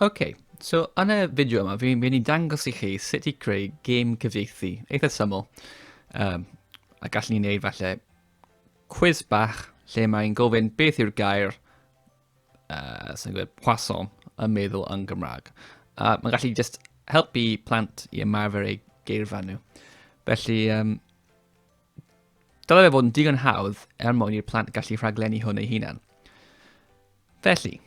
Ok, so yn y fideo yma, fi'n mynd i dangos i chi sut i creu gêm cyfieithu eitha syml. Um, a gallwn ni wneud falle quiz bach lle mae'n gofyn beth yw'r gair uh, sy'n gwneud poisson yn meddwl yn Gymraeg. A mae'n gallu just helpu plant i ymarfer eu geirfa nhw. Felly, um, Dylai fe fod yn digon hawdd er mwyn i'r plant gallu rhaglenni hwn ei hunan. Felly,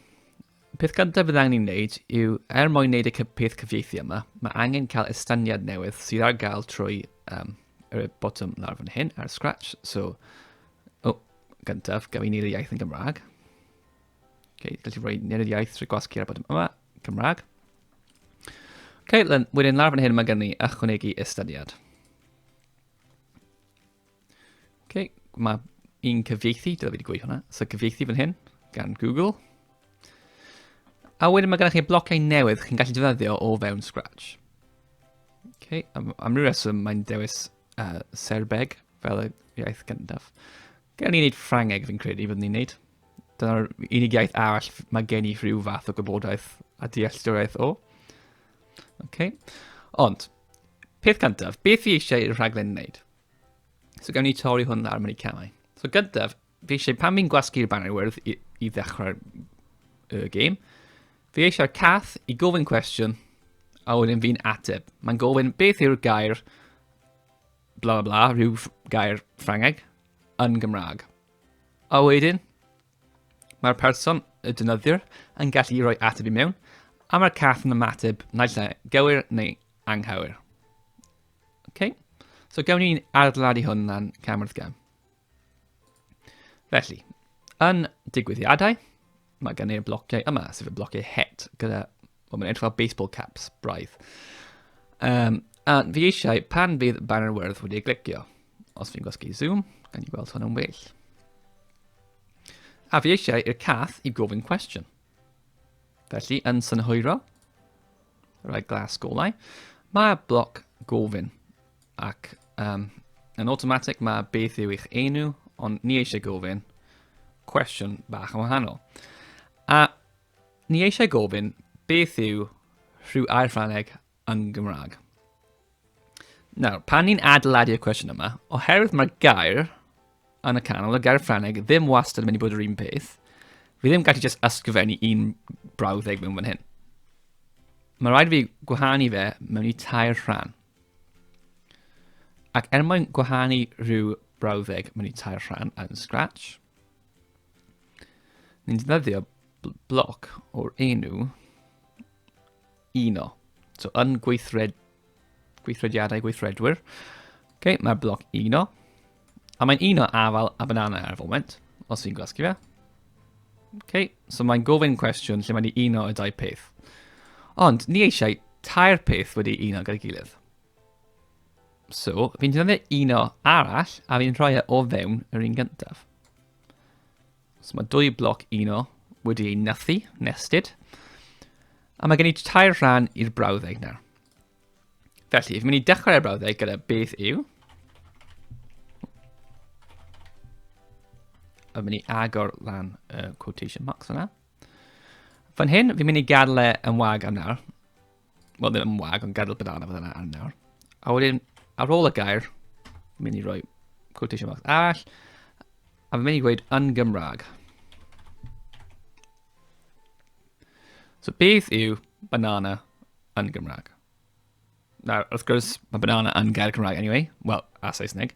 peth gyntaf bydd angen ei wneud yw, er mwyn wneud y peth cyfieithu yma, mae angen cael estyniad newydd sydd ar gael trwy um, yr botwm lawr fan hyn ar Scratch. So, o, oh, gyntaf, gaf i wneud y iaith yn Gymraeg. Okay, gallu rhoi nid y iaith trwy gwasgu ar y botwm yma, Cymraeg. Okay, wedyn lawr fan hyn mae gen i ychwanegu estyniad. Okay, mae un cyfieithu, dwi wedi gweud hwnna, so cyfieithu fan hyn, gan Google. A wedyn mae gennych chi blociau newydd chi'n gallu defnyddio o fewn Scratch. Okay, am, am ryw reswm mae'n dewis uh, Serbeg fel y iaith gyntaf. Gael ni wneud Ffrangeg fi'n credu byddwn ni'n wneud. Dyna'r unig iaith arall mae gen i rhyw fath o gwybodaeth a dealltwriaeth o. Okay. Ond, peth cyntaf, beth fi eisiau i'r rhaglen wneud? So gawn ni torri hwn lawr mewn i camau. So gyntaf, fi eisiau pan fi'n gwasgu'r banner wyrdd i, i ddechrau'r uh, game, fi eisiau'r cath i gofyn cwestiwn a wedyn fi'n ateb. Mae'n gofyn beth yw'r gair bla bla bla, rhyw gair Ffrangeg, yn Gymraeg. A wedyn, mae'r person, y dynyddiwr, yn gallu rhoi ateb i mewn, a mae'r cath yn ymateb naill ai gywir neu anghywir. Okay? So gawn ni'n adeiladu hwn lan cam wrth gam. Felly, yn digwyddiadau, Mae gen i'r blociau yma, sef y blociau het, gyda, o, mae'n edrych fel baseball caps, braidd. Um, a fi eisiau, pan fydd banner wyrdd wedi ei glicio, os fi'n gwasgu zoom, gan i gweld hwn yn well. A fi eisiau i'r cath i gofyn cwestiwn. Felly, yn synhwyro, rhaid glas golau, mae bloc gofyn. Ac um, yn automatic mae beth yw eich enw, ond ni eisiau gofyn cwestiwn bach yn wahanol. A ni eisiau gofyn beth yw rhyw air Ffrangeg yn Gymraeg. Nawr, pan ni'n adeiladu'r cwestiwn yma, oherwydd mae'r gair yn y canol, y gair Ffrangeg ddim wastad yn mynd i bod yr un peth, fi ddim gallu just ysgrifennu un brawddeg mewn fan hyn. Mae rhaid fi gwahanu fe mewn i tair rhan. Ac er mwyn gwahanu rhyw brawddeg, mae'n ei tair rhan yn Scratch. Ni'n ddyddio bloc o'r enw uno. So yn gweithred, gweithrediadau gweithredwyr, okay, mae'r bloc uno. A mae'n un o afal a banana ar y foment, os fi'n gwasgu fe. OK, so mae'n gofyn cwestiwn lle mae'n ei uno y dau peth. Ond ni eisiau tair peth wedi uno gyda'i gilydd. So, fi'n defnyddio uno arall a fi'n rhoi e o fewn yr un gyntaf. So mae dwy bloc uno wedi ei nythu, nested. A mae gen i tair rhan i'r brawddeg nawr. Felly, fi'n mynd i dechrau'r brawddeg gyda beth yw. Fi'n mynd i agor lan y uh, quotation marks yna. Fan hyn, fi'n mynd i gadw e yn wag am nawr. Wel, ddim yn wag, ond gadw banana fan yna am nawr. A wedyn, ar ôl y gair, fi'n mynd i roi quotation marks arall. A fi'n mynd i gweud yn Gymraeg. So beth yw banana yn Gymraeg. Nawr, wrth gwrs, mae banana yn gair Cymraeg anyway, wel, a Saesneg.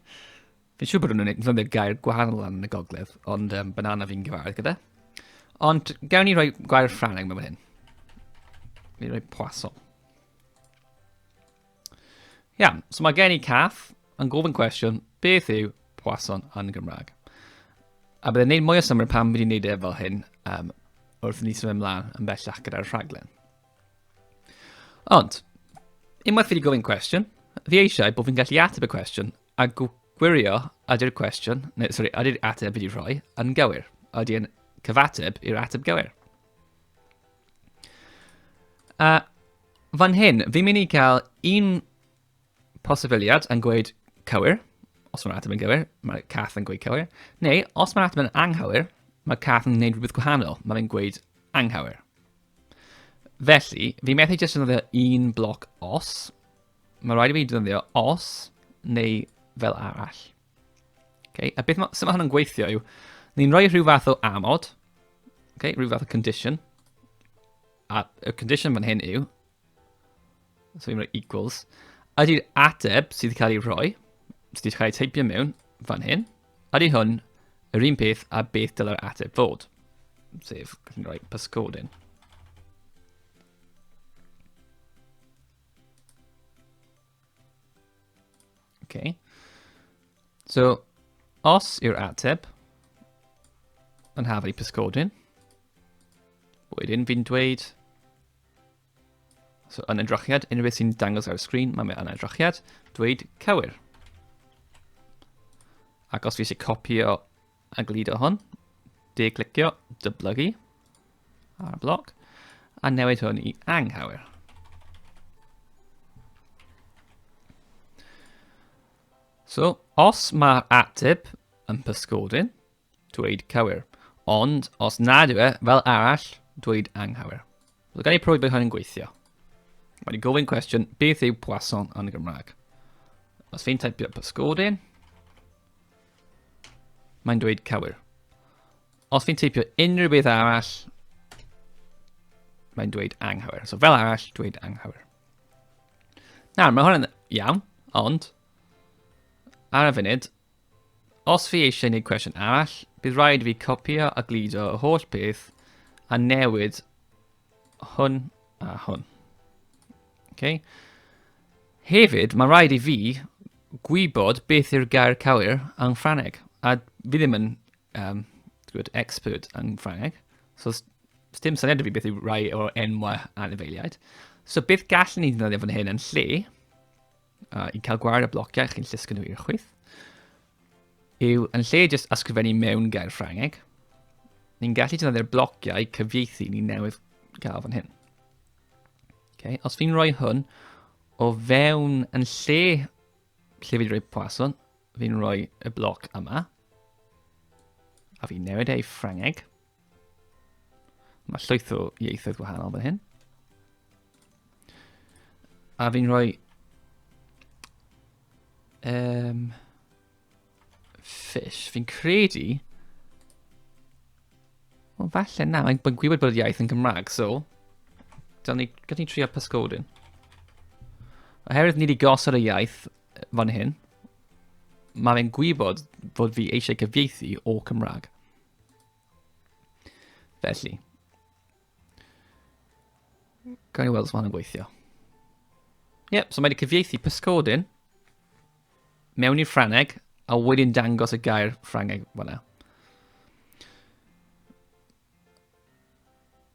Fi'n siŵr bod nhw'n unig, ddefnyddio gair gwahanol yn y gogledd, ond um, banana fi'n gyfarwydd gyda. Ond gawn ni roi gair Ffraneg mewn hyn. Fi'n rhoi poisson. Ia, so mae gen i caff yn gofyn cwestiwn, beth yw poisson yn Gymraeg? A byddai'n neud mwy o symud pan fi wedi'n neud e fel hyn, um, wrth i ni symud ymlaen yn bellach gyda'r rhaglen. Ond, unwaith fi wedi gofyn cwestiwn, fi eisiau bod fi'n gallu ateb y cwestiwn a gwirio ydy'r cwestiwn, neu sori, ydy'r ateb wedi rhoi yn gywir. Ydy'n cyfateb i'r ateb gywir. A fan hyn, fi'n mynd i cael un posibiliad yn gweud cywir, os mae'r ateb yn gywir, mae cath yn gweud cywir, neu os mae'r ateb yn anghywir, mae cath yn gwneud rhywbeth gwahanol, mae'n gweud anghywir. Felly, fi methu jyst yn ddefnyddio un bloc os. Mae rhaid i fi ddefnyddio os neu fel arall. Okay? A beth ma, sy'n ma hwn yn gweithio yw, ni'n rhoi rhyw fath o amod, okay? rhyw fath o condition, a y condition fan hyn yw, So i'n rhoi equals. Ydy'r ateb sydd wedi cael ei rhoi, sydd wedi cael ei teipio mewn fan hyn, ydy hwn yr un peth a beth dylai'r ateb fod. Sef, gallwn ni roi pysgod yn. Okay. So, os yw'r ateb yn hafau pysgodyn, wedyn fi'n dweud So yn edrychiad, unrhyw beth sy'n dangos ar y sgrin, mae mewn edrychiad, dweud cywir. Ac os fi eisiau copio a gludo hwn, de clicio, dyblygu ar y bloc, a newid hwn i anghywir. So, os mae'r ateb yn pysgodyn, Dweud cywir. Ond, os nad yw e, fel arall, dweud anghywir. So, gan i profi bod hyn yn gweithio. Mae'n gofyn cwestiwn, beth yw poisson yn y Gymraeg? Os fi'n typio pysgodyn, mae'n dweud cywir. Os fi'n typio unrhyw beth arall, mae'n dweud anghywir. So fel arall, dweud anghywir. Nawr, mae hwn yn iawn, ond ar y funud, Os fi eisiau gwneud cwestiwn arall, bydd rhaid i fi copio a gludo y holl beth a newid hwn a hwn. Okay. Hefyd, mae rhaid i fi gwybod beth yw'r gair cywir yng Ffraneg. A fi ddim yn um, gwybod, expert yng Ffraneg. So, dim syniad i fi beth yw rhai o'r enwau anifeiliaid. So, beth gallwn ni ddefnyddio fan hyn yn lle? a i cael gwared y blociau chi'n llusgo nhw i'r chwyth, yw yn lle jyst ysgrifennu mewn gair Ffrangeg, ni'n gallu defnyddio'r blociau cyfieithu ni newydd gael fan hyn. Okay. Os fi'n rhoi hwn o fewn yn lle lle fi'n rhoi poison, fi'n rhoi y bloc yma, a fi'n newid ei Ffrangeg, Mae llwyth o ieithoedd gwahanol fan hyn. A fi'n rhoi... Um, fish. Fi'n credu... Wel, falle na. Mae'n gwybod bod y iaith yn Gymraeg, so... Dyna ni, gallwn ni trio pysgodyn. Oherwydd ni wedi gosod y iaith fan hyn, mae fe'n gwybod fod fi eisiau cyfieithu o Cymraeg. Felly. Gael ei weld os mae'n gweithio. Ie, yep, so mae wedi cyfieithu pysgodyn mewn i'r Ffrangeg a wedyn dangos y gair Ffrangeg fyna.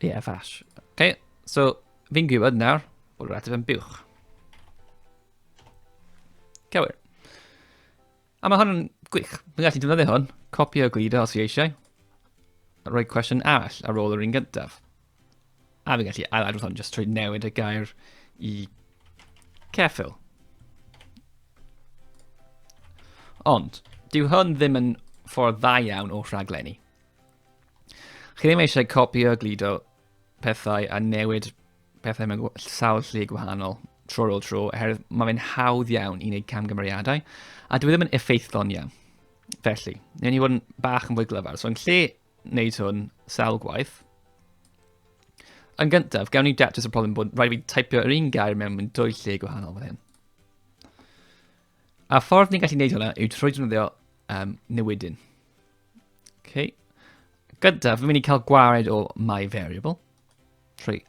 Yeah, fash. Okay, so fi'n gwybod nawr bod yr ateb yn buwch. Cywir. A mae hwn yn gwych. Mae'n gallu defnyddio hwn, copi o glido os i eisiau, a rhoi cwestiwn arall ar ôl yr un gyntaf. A fi'n gallu ail-adrodd hwn jyst trwy newid y gair i ceffil. Ond, dyw hwn ddim yn ffordd dda iawn o rhaglenni. Chi ddim eisiau copio glido pethau a newid pethau mewn sawl lle gwahanol tro ar ôl tro, oherwydd mae fe'n hawdd iawn i wneud camgymeriadau, a dwi e ddim yn effeithlon iawn. Felly, newn ni fod yn bach yn fwy glyfar. So, yn lle wneud hwn sawl gwaith, yn gyntaf, gawn ni datrys y problem bod rhaid fi taipio yr un gair mewn mewn dwy lle gwahanol fan hyn. A ffordd ni'n gallu gwneud hwnna yw trwy defnyddio um, newidyn. Okay. Gyda, fi'n mynd i cael gwared o my variable. Trwy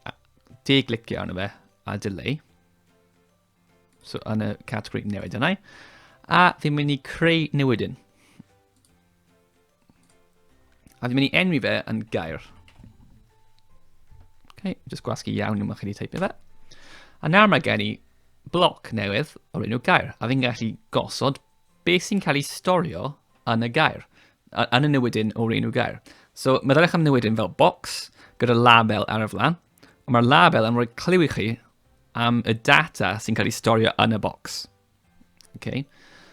deglicio arno fe a delay. So yn y categori newid yna. A fi'n mynd i creu newidyn. A fi'n mynd i enwi fe yn gair. Okay, just gwasgu iawn yma chi wedi teipio fe. A nawr mae gen i bloc newydd o'r enw gair, a fi'n gallu gosod beth sy'n cael ei storio yn y gair, yn y newydyn o'r enw gair. So, mae ddylech am newydyn fel box, gyda label ar y flan, ond mae'r label yn rhoi clyw i chi am y data sy'n cael ei storio yn y box. Okay.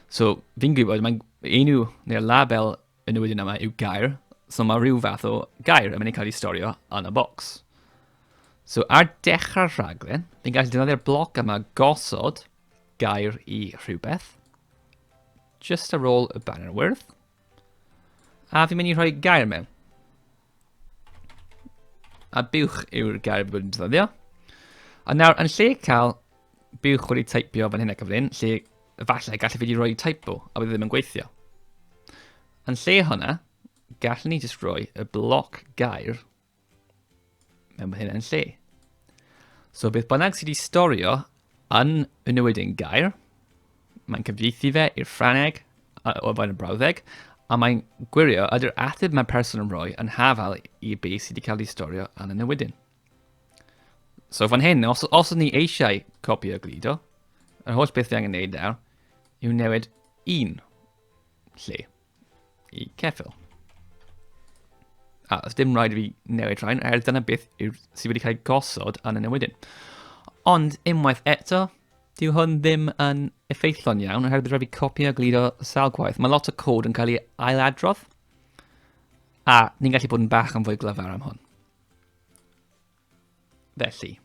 So, fi'n gwybod, mae'n enw neu'r label yn y wedyn yma yw gair, so mae rhyw fath o gair yn mynd i cael ei storio yn y bocs. So, ar dechrau'r rhaglen, fi'n gallu defnyddio'r bloc yma gosod gair i rhywbeth, just ar ôl y banner wyrdd, a fi'n mynd i rhoi gair mewn. A buwch yw'r gair bod yn defnyddio. A nawr, yn lle cael buwch wedi typio fan hyn ac fan hyn, lle efallai gallu wedi rhoi typo a bydd e ddim yn gweithio. Yn lle hwnna, gallwn ni jyst rhoi y bloc gair mewn fan hyn yn lle. So beth bynnag sydd wedi storio Yn y newid yn gair, mae'n cyfieithu fe i'r Ffrangeg o fewn y brawddeg, a mae'n gwirio ydy'r ateb mae person yn rhoi yn hafal i be sydd wedi cael ei storio yn y newydyn. So fan hyn, os, os ydyn ni eisiau copi o glido, yr holl beth fi angen neud nawr yw newid un lle. i ceffil. A os dim rhaid i fi newid rhain, er dyna beth yw sydd wedi cael ei gosod yn y newidyn. Ond unwaith eto, dyw hwn ddim yn effeithlon iawn, oherwydd bydd rhaid fi copi a glido sawl gwaith. Mae lot o cod yn cael ei ailadrodd, a ni'n gallu bod yn bach yn fwy glyfar am hwn. Felly,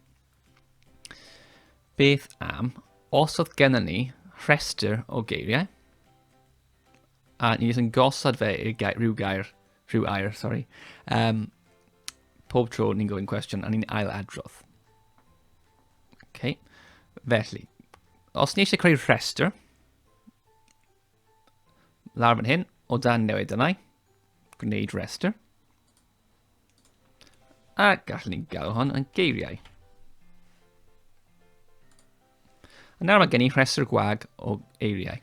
beth am os oedd gennym ni rhestr o geiriau a ni jyst yn gosod fe i'r gair, rhyw gair, rhyw air, sorry, um, pob tro ni'n gofyn cwestiwn a ni'n ail adrodd. Okay. Felly, os ni eisiau creu rhestr, lawr fan hyn, o dan newid yna, gwneud rhestr. A gallwn ni gael hon yn geiriau. A nawr mae gen i rhestr gwag o eiriau.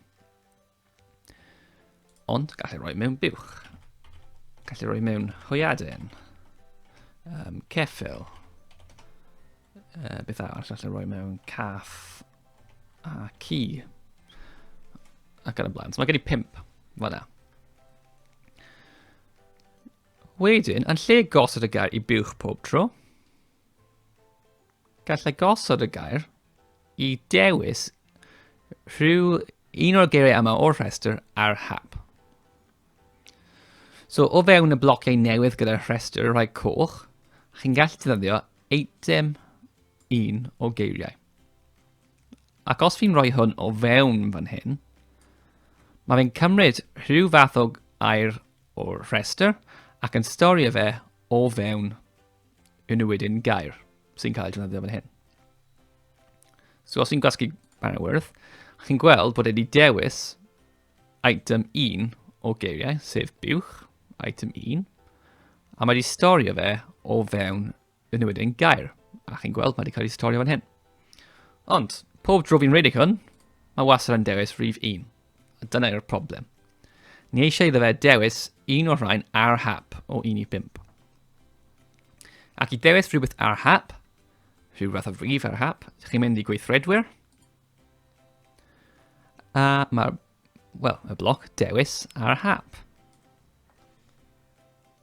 Ond gallu rhoi mewn buwch. Gallu rhoi mewn hwyadyn. Um, ceffil. Uh, beth arall gallu rhoi mewn caff a ci. Ac yn y blaen. So mae gen i pimp. Fel yna. Wedyn, yn lle gosod y gair i buwch pob tro, gallai gosod y gair i dewis rhyw un o'r geiriau yma o'r rhestr ar hap. So o fewn y blociau newydd gyda'r rhestr rhai coch, chi'n gallu defnyddio eitem un o geiriau. Ac os fi'n rhoi hwn o fewn fan hyn, mae fe'n cymryd rhyw fath o air o'r rhestr ac yn storio fe o fewn yn y wedyn gair sy'n cael ei defnyddio fan hyn. So os i'n gwasgu Banner Worth, chi'n gweld bod wedi dewis item 1 o geiriau, sef buwch, item 1, a mae wedi storio fe o fewn yn newid ein gair, a chi'n gweld mae wedi cael ei storio fan hyn. Ond, pob dro fi'n redig hwn, mae wasr yn dewis rhif 1. A dyna yw'r problem. Ni eisiau iddo fe dewis un o'r rhain ar hap o 1 i 5. Ac i dewis rhywbeth ar hap, rhyw fath o rif ar hap, chi'n mynd i gweithredwyr. A mae'r, wel, y bloc dewis ar hap.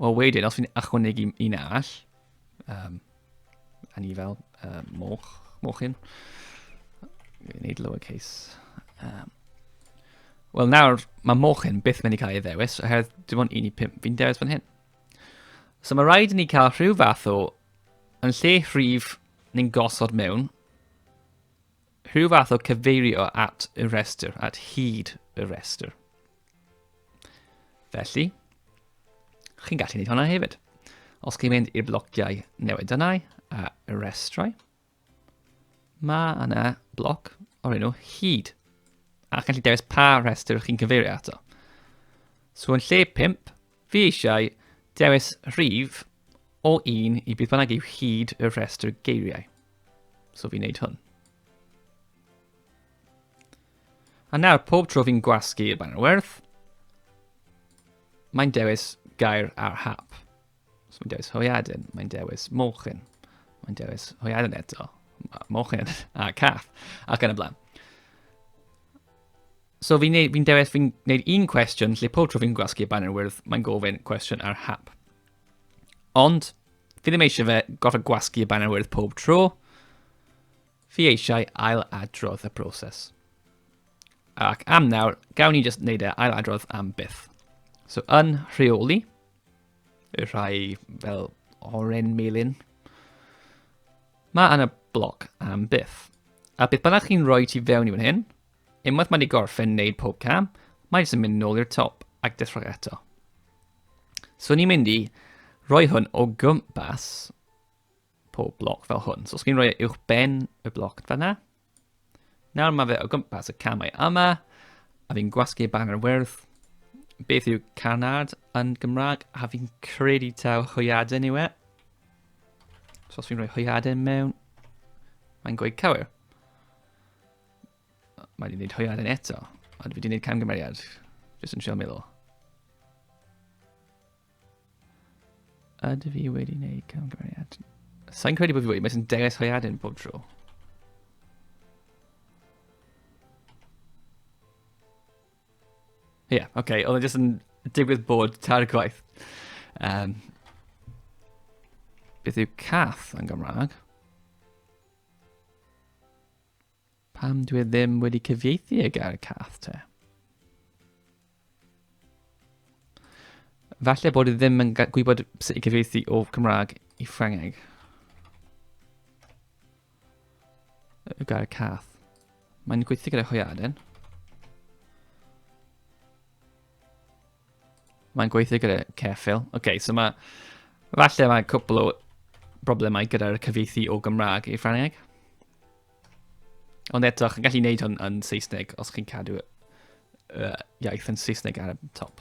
Wel, wedyn, os fi'n ychwanegu un all, um, a ni fel uh, moch, mochyn, fi'n neud lowercase. Um, Wel, nawr, mae mochyn byth mynd i cael ei ddewis, oherwydd dim ond un i pimp fi'n dewis fan hyn. So mae rhaid i ni cael rhyw fath o, yn lle rhif ni'n gosod mewn, Rhyw fath o cyfeirio at y rhestr, at hyd y rhestr. Felly, chi'n gallu gwneud hwnna hefyd. Os chi'n mynd i'r blociau newid yna a y restrau, mae yna bloc o'r enw hyd. A chi'n gallu dewis pa rhestr chi'n cyfeirio ato. So yn lle 5, Fi eisiau dewis rhif o 1 i beth bynnag yw hyd y rhestr geiriau. So fi'n neud hwn. A nawr, pob tro fi'n gwasgu y banner werth, mae'n dewis gair ar hap. So mae'n dewis hoiadyn, mae'n dewis mochyn, mae'n dewis hoiadyn eto, mochyn a cath, ac yn y blaen. So fi'n neud, fi'n dewis, fi'n neud un cwestiwn lle pob tro fi'n gwasgu y banner wyrdd, mae'n gofyn cwestiwn ar hap. Ond, fi ddim eisiau fe gorfod gwasgu y banner wyrdd pob tro. Fi eisiau ail adrodd y broses. Ac am nawr, gawn ni jyst neud e ail adrodd am byth. So yn rheoli, y rhai fel oren melin, mae yna bloc am byth. A beth bynnag chi'n rhoi ti fewn i fan hyn, Unwaith mae wedi gorffen wneud pob cam, mae jyst yn mynd nôl i'r top ac dechrau eto. So ni'n mynd i roi hwn o gwmpas pob bloc fel hwn. So os chi'n rhoi e uwch ben y bloc fanna, nawr mae fe o gwmpas y camau yma, a fi'n gwasgu y banner wyrdd, beth yw canard yn Gymraeg, a fi'n credu taw hwyaden yw e. So os fi'n rhoi hwyaden mewn, mae'n gweud cywir. Mae wedi gwneud hwyaden eto. Ond fi wedi gwneud camgymeriad. Jyst yn trio meddwl. Ydw fi wedi gwneud camgymeriad? Sa'n credu bod fi wedi, mae sy'n dewis hwyaden bob tro. Ie, yeah, oce, okay. oedd e jyst yn digwydd bod tair gwaith. Um, beth yw cath yn Gymraeg? Pam dwi ddim wedi cyfieithu y gair cath te? Falle bod i ddim yn gwybod sut i gyfieithu o Cymraeg i Ffrangeg. Y gair cath. Mae'n gweithio gyda hwyaden. Mae'n gweithio gyda Ceffil. Oce, okay, so mae... Falle mae cwpl o broblemau gyda'r cyfeithi o Gymraeg i Ffrangeg. Ond eto, chi'n gallu gwneud hwn yn Saesneg os chi'n cadw uh, iaith yn Saesneg ar y top.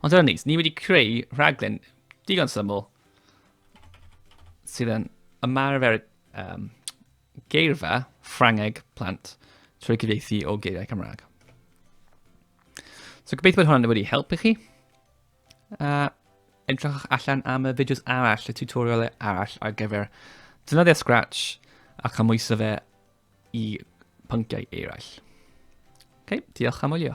Ond dyna ni, ni wedi creu rhaglen digon syml sydd yn ymarfer um, geirfa Ffrangeg plant trwy gyfeithi o geiriau Cymraeg. So gobeithio bod hwnna'n wedi helpu chi. Uh, edrychwch allan am y fideos arall, y tutorialau arall ar gyfer dynoddio Scratch a chymwyso fe i pynciau eraill. Ok, diolch am wylio.